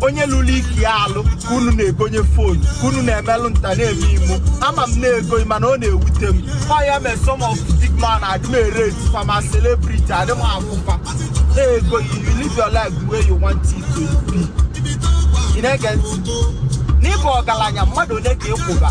onye lụlụ ike ya alụ ka unu na-egonye fon ka unu na-emelụ nta na-eme imo ama m na ego ghị mana ọ na-ewute m ọ ya mee some of big man adị m e-rate fa ma celebrity adị m afụ fa na ego ghị you live your life the way you want it to be ị na-ege ntị na ị bụ ọgalanya mmadụ one ka ị kwụba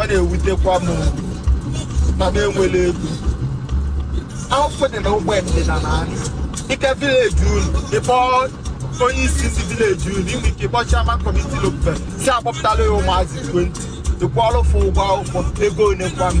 ọ na-ewutekwa m na m enwela ego afọ dị na ụgbọ ndịda na anyị ị ga village unu ị kpọ onye isi ndị village unu i nwe ike ịkpọ chairman committee local sị akpọpụtala ya ụmụazị 20 ị kwụọlụ fa ụgwọ akwụkwọ ego one kwanụ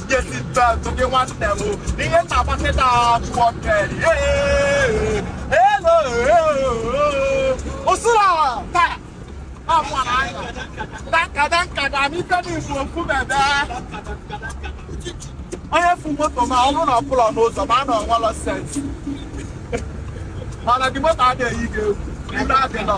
onye fu moto ma ọ bụrụ na ọ pụlọ n'ụzọ ma a na o nwelọ sense mana di moto adịghị ike egwu ndị adị nọ